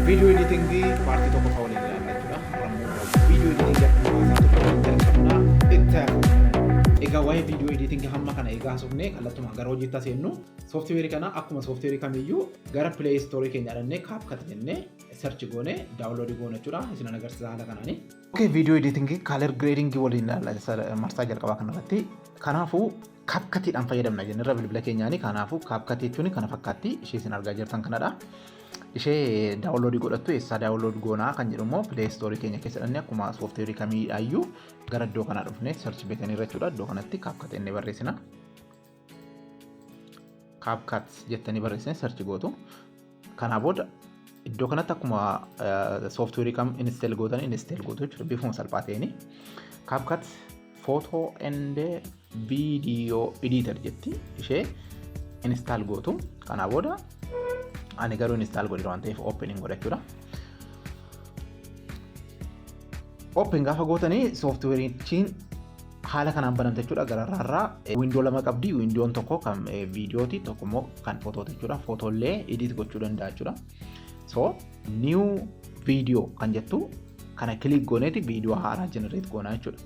Video editing partii tokko fa'aa waliin ilaalla jechuudha. Har'ammoo video editing akkuma tokko jalqabna. Itti Egaa waa'ee video editing hamma kana egaa haasofne kallattumaan gara hojiitti seennu sooftiweerii kana akkuma sooftiweerii kamiyyuu gara play store keenya dhannee kaapkat jennee search goone daawunloodii goone jechuudha isin agarsiisa haala kanaani. Okay video editing color grading waliin ilaalla marsaa jalqabaa kanarratti kanaafuu Kaapkatiidhaan fayyadamna jennerra bilbila keenyaanii kanaafuu kaapkatii jechuun kana fakkaatti ishee isin argaa jirtan kanadha. Ishee daawunloodii godhattu eessaa daawunlood goonaa kan jedhu immoo pilee istoorii keenya keessa dhannee akkuma sooftiweerii kamiidhaayyuu gara iddoo kanaa dhufnee sarchi beekanii irra jechuudha iddoo kanatti kaapkat inni barreessina. Kaapkat jettanii barreessanii sarchi gootu. Kanaa booda iddoo kanatti akkuma sooftiweerii kam inisteel gootan inisteel gootu jechuudha bifuma salphaa ta'een. Kaapkat footoo and viidiyoo ediitar jetti ishee inistaal gootu. Kanaa booda ani garuu inistaal godhe waan ta'eef ooppenin godha jechuudha. Ooppen gaafa gootanii sooftiweeriichiin haala kanaan banamte jechuudha gararraa irraa wiindoo lama qabdi wiindoon tokko kan viidiyooti tokko immoo kan footooti jechuudha footollee edit gochuu danda'a jechuudha so new video kan jettu kana kilik gooneeti viidiyoo haaraa generate goonaa jechuudha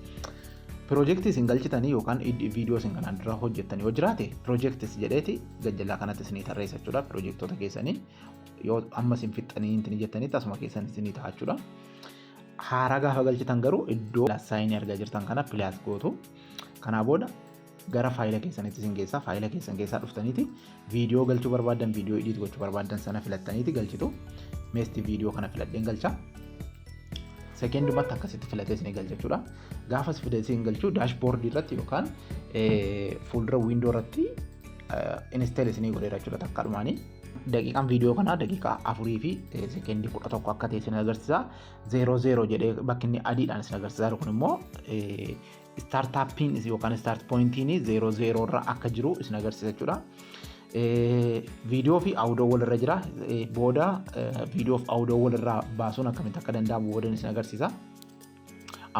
pirojektii isin galchitanii yookaan viidiyoo isin kanaan dura hojjettanii yoo jiraate pirojektis jedheeti gajjallaa kanatti isinii tarreessa jechuudha pirojektoota keessanii yoo amma isin fixxanii hin jettanitti asuma keessan isinii ta'a jechuudha. Haaraa gaafa galchitan garuu iddoo saayinii argaa jirtan kana pilaas gootu. Kanaa booda gara faayila keessanitti isin geessaa faayila keessan keessaa dhuftaniiti viidiyoo galchuu barbaadan viidiyoo idiit gochuu barbaadan sana filattaniiti galchitu. Meesti viidiyoo kana filadheen galcha. Sekeendumatti akkasitti filatee isin galcha jechuudha. Gaafa si filatee isin galchu daashboordii irratti yookaan fuuldura wiindoo irratti inisteel isinii godheera jechuudha takkaadhumaanii. daqiiqaan viidiyoo kanaa daqiiqaa afurii fi sekeendii kudha tokko akka ta'e isin agarsiisa. Zeeroo zeeroo jedhee bakki inni adiidhaan isin agarsiisaa jiru kun immoo istaartaappiin yookaan istaart pooyintiin zeeroo zeeroo irra akka jiru isin agarsiisa jechuudha. Viidiyoo fi awudoo walirra jira. Booda viidiyoo fi awudoo walirraa baasuun akkamitti akka danda'amu booda isin agarsiisa.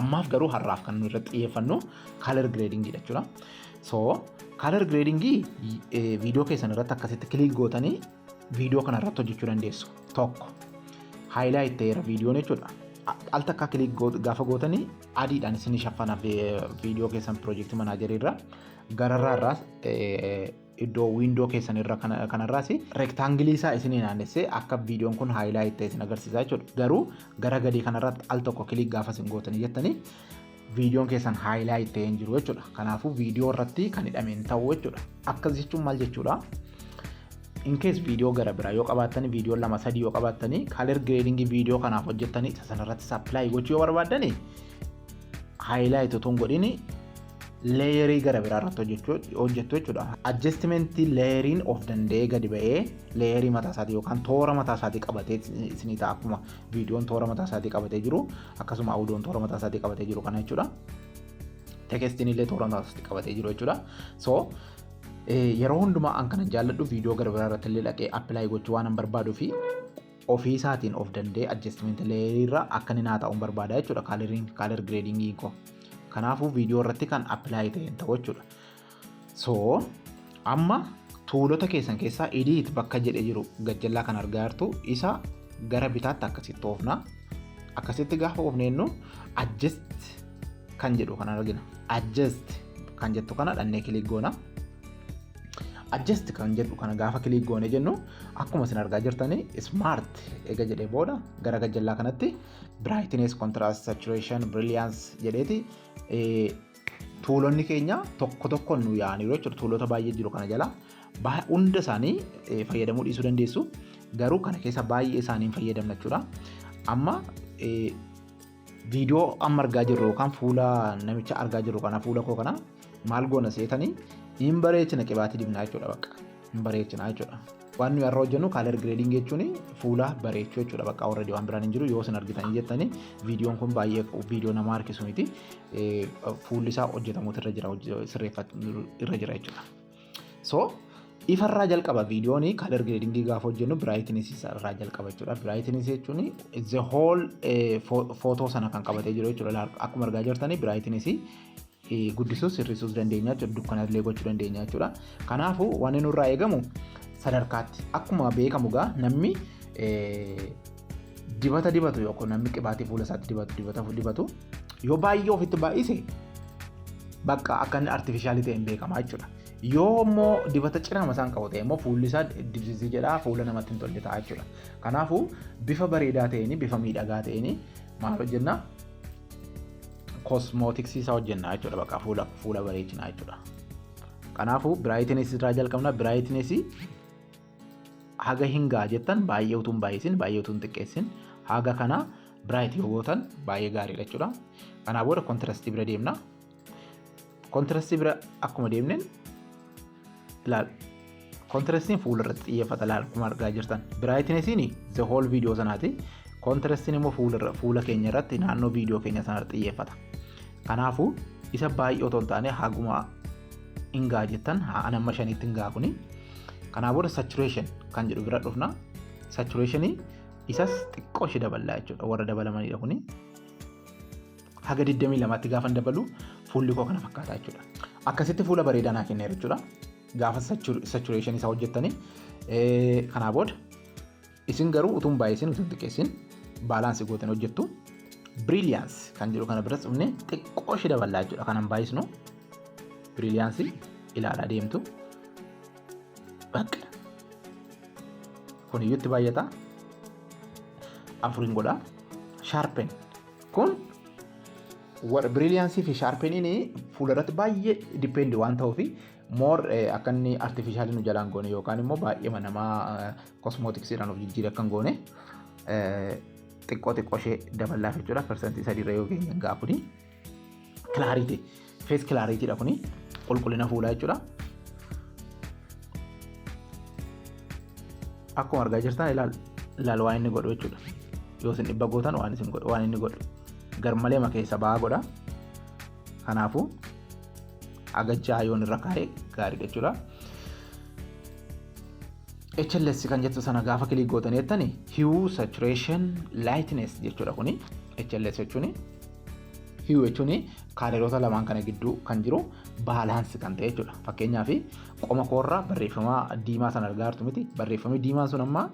Ammaaf garuu har'aaf kan nuyi irratti xiyyeeffannu color grading dha jechuudha. So color grading viidiyoo keessan irratti akkasitti kilik gootanii viidiyoo kana irratti hojjechuu dandeessu. Tokko highlight ta'eera viidiyoon jechuudha. Al takka kilik gaafa gootanii adiidhaan isin shaffana viidiyoo keessan piroojeektii manaajarii irra gararraa irraa iddoo wiindoo keessan irra kanarraas rektaangilii isaa isin naannessee akka viidiyoon kun haayilaayit ta'e isin agarsiisaa jechuudha. Garuu gara gadii kanarratti al tokko kiliik gaafa isin gootanii jettanii viidiyoon keessan haayilaayit ta'ee hin jiru jechuudha. Kanaafuu viidiyoo irratti kan hidhame hin ta'u jechuudha. Akkas jechuun maal jechuudha? Inkees viidiyoo gara biraa yoo qabaattanii viidiyoo lama sadii yoo qabaattanii kaaler gireedingii viidiyoo kanaaf hojjettanii isa sanarratti sappilaayii gochuu yoo barbaaddanii haayilaayit utuu hin godhini leeyerii gara biraa irratti hojjettu jechuudha. Adjestimentii leeyeriin of danda'ee gadi ba'ee leeyerii mataa isaatii yookaan toora mataa isaatii qabatee isinii ta'a akkuma viidiyoon toora mataa isaatii qabatee jiru akkasuma audoon toora mataa isaatii qabatee jiru kana jechuudha. Tekestiin illee toora mataa isaatii qabatee jiru jechuudha. So yeroo hundumaa an kana jaalladhu viidiyoo gara biraa irratti illee dhaqee appilaay gochuu waan an barbaaduu fi ofii isaatiin of danda'ee adjustment layer irra akka inni naa taa'uun barbaada jechuudha coloring color grading koo kanaafuu viidiyoo irratti kan apply ta'een ta'u jechuudha so amma tuulota keessan keessaa edit bakka jedhe jiru gajjallaa kan argaa jirtu isa gara bitaatti akkasitti oofna akkasitti gaafa oofneennu adjust kan jedhu kan argina adjust kan jettu kana dhannee kilik goona. adjust kan jedhu kana gaafa kiliik goone jennu akkuma isin argaa jirtan smart eega jedhee booda gara gajjallaa kanatti brightness contrast saturation brilliance jedheeti tuulonni keenya tokko tokkoon nu yaa'aniiru jechuudha tuulota baay'ee jiru kana jala hunda isaanii fayyadamuu dhiisuu dandeessu garuu kana keessa baay'ee isaanii hin fayyadamna jechuudha amma Viidiyoo amma argaa jirru yookaan fuula namicha argaa jirru kana fuula koo kana maal goona seetanii hin bareechina qibaatii dibnaa jechuudha bakka hin bareechina jechuudha. Waan nuyi har'a hojjennu kaalar gireediing jechuun fuula bareechuu jechuudha bakka warra waan biraan hin jiru yoo isin argitanii jettanii viidiyoon kun baay'ee viidiyoo nama harkisu miti fuulli isaa hojjetamuutu irra jira sirreeffatu irra jira jechuudha. So ifarraa jalqaba viidiyoon kalar gradingii gaafa hojjennu brightness irraa jalqaba jechuudha. Brightness jechuun the whole footoo sana kan qabatee jiru jechuudha. Akkuma argaa jirtanii brightness guddisuus hir'isuus dandeenya jechuudha. Dukkana illee gochuu dandeenya jechuudha. Kanaafuu wanni nurraa eegamu sadarkaatti akkuma beekamu gaa namni Dibata dibatu yookaan namni qibaatii fuula isaatti dibatu dibata dibatu yoo baay'ee ofitti baay'ise bakka akka inni artifishaalii ta'e hin beekama jechuudha. Yoo immoo dibata cirama isaan qabu ta'e immoo fuulli isaa dibsisii jedhaa fuula namatti hin tolle ta'a jechuudha. Kanaafuu bifa bareedaa ta'een bifa miidhagaa ta'een maal hojjenna? Kosmootiksii isaa hojjenna jechuudha bakka fuula fuula bareechinaa jechuudha. Kanaafuu biraayitinees irraa jalqabna biraayitineesii haga hin ga'a jettan baay'ee utuu hin baay'isin baay'ee utuu hin xiqqeessin haga kana biraayit yoo gootan baay'ee gaariidha jechuudha. Kanaa booda kontirastii bira deemna. Kontirastii bira akkuma deemneen ilaal. Kontirastiin fuula irratti xiyyeeffata ilaal akkuma argaa jirtan. Biraayitineesiin the whole video sanaati. Kontirastiin immoo fuula fuula keenya irratti naannoo video keenya sana irratti xiyyeeffata. Kanaafuu isa baay'ee otoo hin taane haguma hin ga'a jettan haa anamma shaniitti hin ga'a kuni. Kanaa booda saturation kan jedhu bira dhufna. Saturation isas xiqqoo ishee daballaa jechuudha. Warra dabalamanidha kuni. Haga 22tti gaafa dabalu fuulli koo kana fakkaata jechuudha. Akkasitti fuula bareedaa naa kenneera jechuudha. Gaafa saturation isaa hojjettanii kanaa booda Isin garuu utuu hin baay'isin utuu hin xiqqeessin baalaansi gootan hojjettu. Biriiliyaansi kan jedhu kana biratti dhufnee xiqqoo ishee daballaa jechuudha kan hin baay'isnu. Biriiliyaansi ilaalaa deemtu. Bakka kun iyyuu itti baay'ata. Afuriin godha. Shaarpen kun biriiliyaansii fi shaarpeniin fuulduratti baay'ee dipendi waan ta'uuf moor akka inni artifiishaalii nu jalaan goone yookaan immoo baay'eema namaa kosmootiksiidhaan of jijjiire akka hin goone xiqqoo xiqqoo ishee daballaaf jechuudha persentii sadiirra yoo geenye gaa kuni kilaariiti fees kilaariitiidha kuni qulqullina fuulaa jechuudha. Akkuma argaa jirtan ilaal ilaal waan inni godhu jechuudha yoo isin dhibba gootan waan isin godhu waan inni godhu garmalee makeessa ba'aa godha kanaafuu. haga ja'a yoon irra kaa'e gaariidha jechuudha. HLS kan jettu sana gaafa kilii gootan jettani hue saturation lightness jechuudha kuni HLS jechuun hue jechuun kaaleroota lamaan kana gidduu kan jiru baalaansi kan ta'e jechuudha. Fakkeenyaaf qoma koorraa barreeffama diimaa sana argaa jirtu miti barreeffamni diimaan sun amma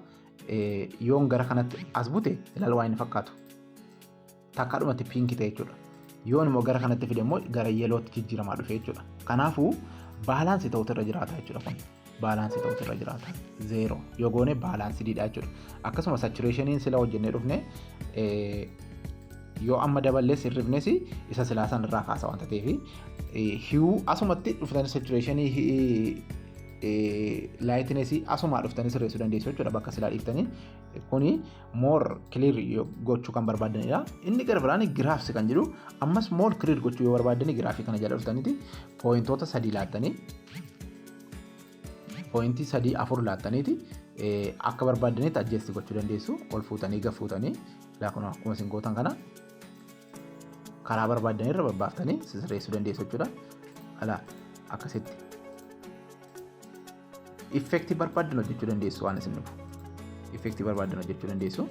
yoon gara kanatti as bute ilaala waan inni fakkaatu. takkaadhumatti piinki ta'e jechuudha. Yoon immoo gara kanatti fide immoo gara yeelootti jijjiiramaa dhufe jechuudha. Kanaafuu baalaansii ta'utu irra jiraata jechuudha kun. Baalaansii ta'utu irra jiraata. Zeeroo yoo goone baalaansiidha jechuudha. Akkasuma satureeshiniin sila hojjennee dhufne yoo amma daballee sirrifnes isa silaa san irraa kaasa wanta ta'eef hiyuu asumatti dhuftan satureeshinii laayitinesi asumaa dhuftanii sirreessuu dandeessu jechuudha bakka silaa dhiiftanii kuni moor kiliir gochuu kan barbaadanidha. Inni gara biraan giraafsi kan jedhu ammas moor kiliir gochuu yoo barbaadani giraafii kana jala dhuftaniiti pooyintoota sadii laattanii pooyintii sadii afur laattaniiti akka barbaadanitti ajjeesti gochuu dandeessu ol fuutanii gad fuutanii akkuma isin gootan kana karaa barbaaddan irra babbaaftanii sirreessuu dandeessu jechuudha. Ala akkasitti effektii barbaaddan hojjechuu dandeessu waan isin dhufu. Effektii barbaaddan hojjechuu dandeessu.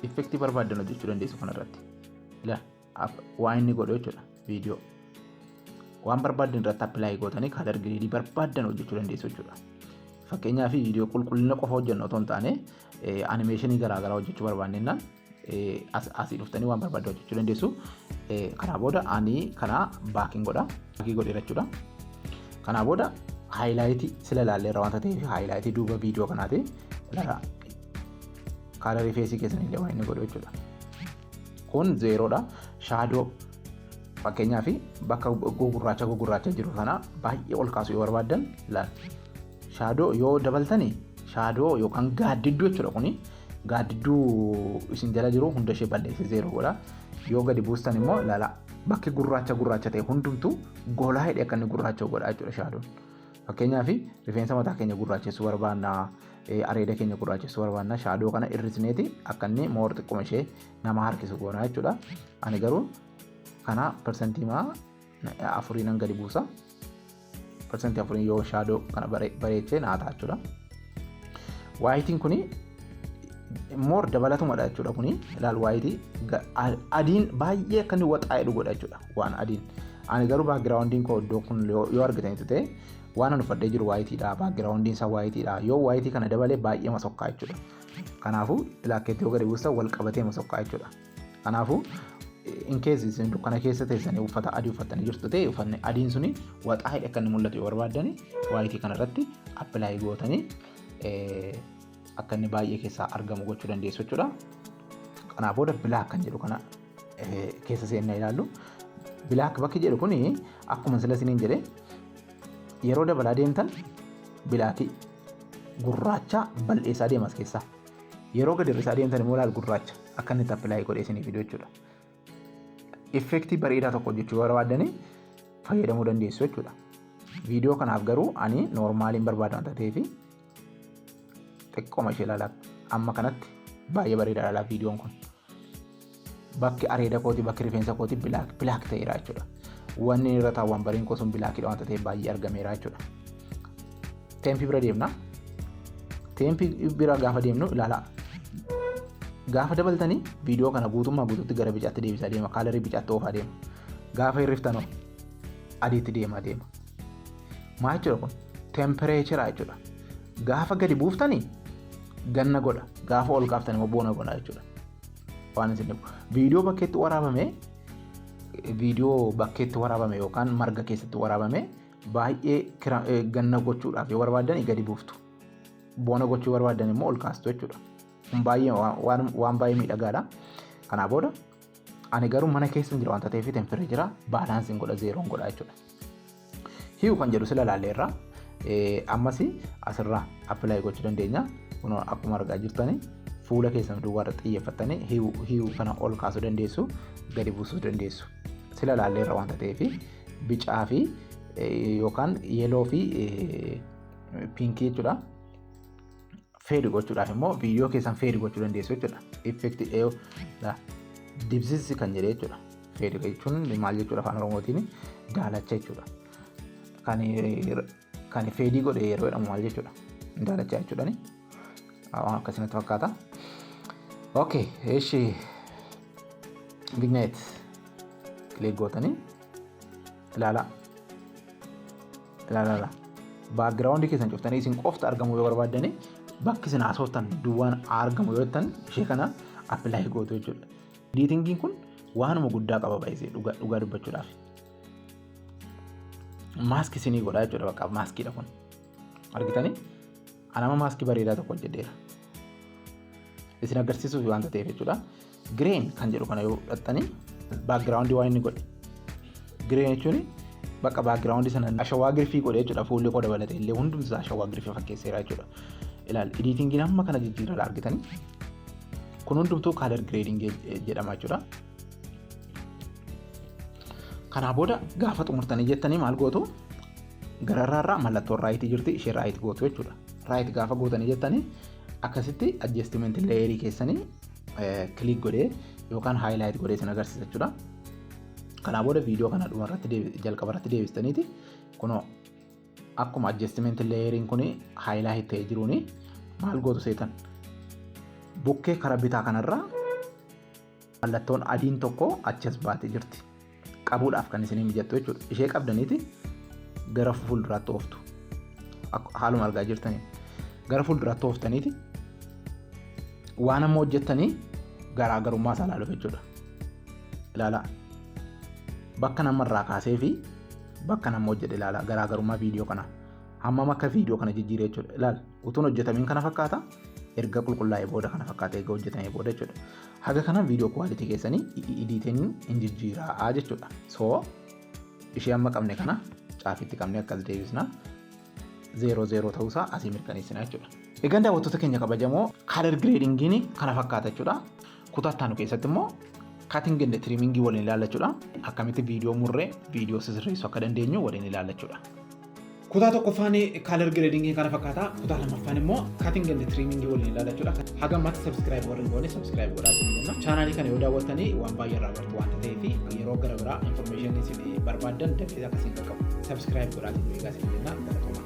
Effektii barbaaddan hojjechuu dandeessu kanarratti. Ilaali. waa inni godhu jechuudha viidiyoo waan barbaaddan irratti appilaayi gootanii kaalar giriidii barbaaddan hojjechuu dandeessu jechuudha. Fakkeenyaaf viidiyoo qulqullina qofa hojjennu otoo hin taane animeeshinii garaagaraa hojjechuu barbaannennaan asii dhuftanii waan barbaaddan hojjechuu dandeessu. Kanaa booda ani kana baakiin godha. Baakii godheera jechuudha. Kanaa booda haayilaayitii sila ilaalleerra waanta ta'eef haayilaayitii duuba viidiyoo kanaati. Laraa kaalarii feesii keessan illee waan inni godhu jechuudha. kun zeeroodha shaadoo fakkeenyaa fi bakka gugurraacha gugurraacha jiru kana baay'ee ol kaasuu yoo barbaaddan laal shaadoo yoo dabaltani shaadoo yookaan gaaddidduu jechuudha kuni gaaddidduu isin jala jiru hunda ishee balleesse zeeroo godha yoo gadi buustan immoo laala bakki gurraacha gurraacha ta'e hundumtu golaa hidhe akka inni gurraacha godha jechuudha shaadoon. Fakkeenyaaf rifeensa mataa keenya gurraachessuu barbaanna, areeda keenya gurraachessuu barbaanna, shaadoo kana hir'isneeti akka inni moor xiqquma ishee nama harkisu goona jechuudha. Ani garuu kana parsantii maa afurii nan gadi buusa. Parsantii afurii yoo shaadoo kana bareechee naa ta'a jechuudha. Waayitiin kuni moor dabalatumadha jechuudha kuni ilaal waayitii adiin baay'ee akka inni waxaa'e godha jechuudha. waan adiin. Ani garuu baakgiraawundiin koo iddoo kun yoo argitanitti ta'e waan an uffadhee jiru waayitiidha baakgiraawundiin isaa waayitiidha yoo waayitii kana dabalee baay'ee masokkaa jechuudha. Kanaafuu bilaakkeetti yoo gadi buustan wal qabatee masokkaa jechuudha. Kanaafuu in keessa isin dukkana keessa teessanii uffata adii uffattanii jirtu ta'e uffanni adiin suni waxaa hidhe akka inni mul'atu yoo barbaaddan waayitii kana irratti appilaayii gootanii akka inni baay'ee keessaa argamu gochuu dandeessu jechuudha. Kanaafuu bilaak kan jedhu kana keessa seennaa ilaallu bilaak bakki jedhu kun akkuma sila isiniin jedhe yeroo dabalaa deemtan bilaakii gurraacha bal'eessaa deemas keessaa yeroo gadi hir'isaa deemtan immoo laal gurraacha akka inni tappilaayii godhee isiniif fiduu jechuudha. Effektii bareedaa tokko hojjechuu barbaadanii fayyadamuu dandeessu jechuudha. Viidiyoo kanaaf garuu ani noormaaliin barbaada waan ta'eef xiqqoma ishee ilaalaa amma kanatti baay'ee bareeda ilaalaa viidiyoon kun bakki areeda kooti bakki rifeensa kooti bilaak bilaak ta'eera jechuudha wanni irra taawwan bariin koo sun bilaakidha wanta ta'e baay'ee argameera jechuudha teempii bira deemna teempii bira gaafa deemnu ilaalaa gaafa dabaltanii viidiyoo kana guutummaa guutuutti gara bicaatti deebisaa deema kaalarii bicaatti oofaa deema gaafa hirriftanoo adiitti deemaa deema. Maa jechuudha kun? Tempireechera jechuudha. Gaafa gadi buuftanii ganna godha. Gaafa ol kaaftan immoo boona godha jechuudha. Waan isin dhibu. Viidiyoo bakkeetti waraabame viidiyoo bakkeetti waraabame yookaan marga keessatti waraabame baay'ee kira- eh, ganna gochuudhaaf yoo barbaadan gadi buuftu. Boona gochuu barbaadan immoo ol kaastu jechuudha. Kun baay'ee waan- waan waan baay'ee miidhagaadha. Kanaa booda Ani garuu mana keessa hin jira wanta ta'eef itin firri jira baalaansi hin godha zeeroon godha jechuudha. Hiyu kan jedhu sila ilaalle irraa ammas asirraa appilaayi gochuu dandeenya. Kunoo akkuma argaa jirtani fuula keessan duwwaa irratti xiyyeeffattanii hiyu hiyu kana ol kaasuu dandeessu gadi buusuu dandeessu. Sila ilaalle irraa wanta ta'eef bicaa fi yookaan yeeloo fi piinkii jechuudha. feedi gochuudhaaf immoo viidiyoo keessan feedi gochuu dandeessu jechuudha. Effekti dheeyo dibsissi kan jedhe jechuudha. Feedi jechuun maal jechuudha afaan oromootiin daalacha jechuudha. Kan feedii godhe yeroo jedhamu maal jechuudha. Daalacha jechuudhani. Waan akkasitti fakkaata. Okay, eshi vignette click gootanii ilaalaa ilaalaa baakgiraawundi keessan cuftanii isin qofti argamuu yoo barbaaddani bakki isin haasoftan duwwaan argamu yoo jettan ishee kana appilaayi gootu jechuudha. Ediitingiin kun waanuma guddaa qaba baay'isee dhugaa dubbachuudhaaf. Maaskii isinii godhaa jechuudha bakka maaskiidha kun argitanii. Anama maaskii bareedaa tokko hojjedheera. Isin agarsiisuuf waanta ta'eef jechuudha. Gireen kan jedhu kana yoo fudhattanii baakgiraawundii waan inni godhe. Gireen jechuun bakka baakgiraawundii sana ashawaa girfii godhe jechuudha. Fuulli koo dabalatee illee hundumti isaa ashawaa girfii fakkeesseera jechuudha. Ilaal ediitingiin amma kana jijjiirraa argitanii. Kun hundumtuu kaalar gireedingii jedhama jechuudha. Kanaa booda gaafa xumurtanii jettanii maal gootu? Gararraa irraa mallattoon raayitii jirti ishee raayit gootu jechuudha. Raayit gaafa gootanii jettanii akkasitti adjestimentii leeyerii keessanii kiliik godhee yookaan haayilaayit godhee isin agarsiisa jechuudha. Kanaa booda viidiyoo kana dhuma irratti jalqaba irratti deebistaniiti kunoo akkuma adjestimentii leeyeriin kun haayilaayit ta'ee jiruuni maal gootu seetan bukkee kara bitaa kanarraa Mallattoon adiin tokko achi as baatee jirti. Qabuudhaaf kan isinii mijattu jechuudha. Ishee qabdaniiti gara fuulduraatti ooftu. Haaluma argaa jirtanii. Gara fuulduraatti ooftaniiti waan amma hojjettanii garaagarummaa isaa ilaaluuf jechuudha. Ilaalaa. Bakka namarraa kaasee fi bakka nama hojjedhe ilaalaa garaagarummaa viidiyoo kanaa. Hammam akka viidiyoo kana jijjiiree jechuudha. Ilaala. Utuun hojjetamiin kana fakkaata. Erga qulqullaa'ee booda kana fakkaata. Erga hojjetamee booda jechuudha. Haga kana video quality keessanii editing hin jijjiiraa jechuudha. So ishee amma qabne kana caafitti qabne akkas deebisna. Zeeroo zeeroo ta'uusaa asii mirkaneessina jechuudha. Egaan daawwattoota keenya kabajamoo color gradingiin kana fakkaata jechuudha. Kutaa ittaanu keessatti immoo cutting and trimming waliin ilaalla jechuudha. Akkamitti viidiyoo murree viidiyoo sisirreessuu akka dandeenyu waliin ilaalla jechuudha. Kutaa tokkoffaan kaalar gireedingii kana fakkaata. Kutaa lammaffaan immoo cutting and trimming waliin ilaala jechuudha. Haga ammatti subscribe warri hin goone subscribe godhaa isin jenna. Chaanaalii kana yoo daawwattanii waan baay'ee irraa bartu waan ta'eef yeroo gara biraa information isin barbaaddan dafee akka isin qaqqabu subscribe godhaa isin eegaa isin jenna. Galatoomaa.